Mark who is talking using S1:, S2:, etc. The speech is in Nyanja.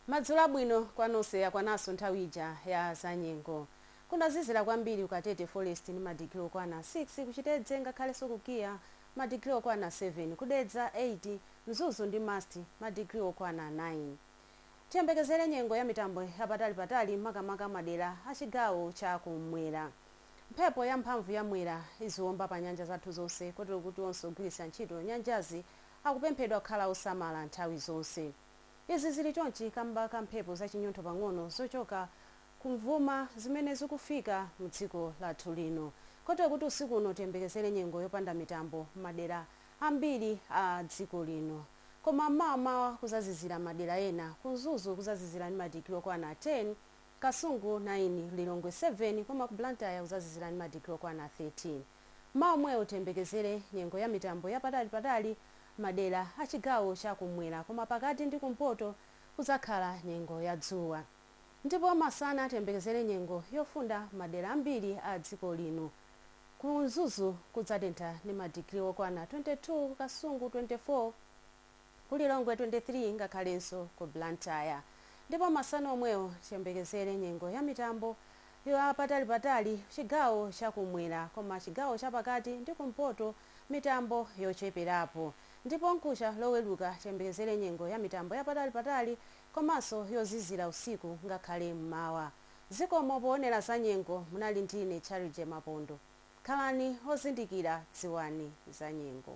S1: Madzulo abwino kwa nonse yakwananso nthawi ija ya zanyengo. Kunazizira kwambiri ku Katete Forest ndi madigiri okwana 6, ku Chitedze ngakhalenso ku KIA madigiri okwana 7, ku Dedza 8, Mzuzu ndi MUST madigiri okwana 9. Tiyembekezere nyengo ya mitambo yapatali patali makamaka madera a chigawo cha kummwera. Mphepo yamphamvu ya Mwera iziwomba pa nyanja zathu zonse kotero kuti onse ogwiritsa ntchito nyanjazi akupemphedwa kukhala osamala nthawi zonse. Izi zili chonchi kamba ka mphepo za chinyontho pang'ono zochoka kumvuma zimene zikufika mdziko lathu lino kotero kuti usiku uno tiyembekezere nyengo yopanda mitambo mmadera ambiri a dziko lino koma mmawamawa kuzazizira madera ena ku Mzuzu kuzazizira ndi madigiri okwana 10 Kasungu 9, Lilongwe 7 koma ku Blantyre kudzazizira ndi madigiri okwana 13. Mmawa omwewo tiyembekezere nyengo ya mitambo ya patalipatali m'madera a chigawo cha kummwera koma pakati ndi kumpoto kudzakhala nyengo ya dzuwa ndipo masana tiyembekezere nyengo yofunda m'madera ambiri a dziko lino. Ku Mzuzu kudzatentha ndi madigiri okwana 22, ku Kasungu 24. ku Lilongwe 23 ngakhalenso ku Blantyre ndipo masana omwewo tiyembekezere nyengo ya mitambo ya patalipatali chigawo cha kumwera koma chigawo cha pakati ndi kumpoto mitambo yocheperapo ndipo mkucha loweruka tiyembekezere nyengo ya mitambo ya patalipatali komanso yozizira usiku ngakhale m'mawa. Zikomo poonera za nyengo munali ndi ine Charity Mapondo. Khalani ozindikira dziwani za nyengo.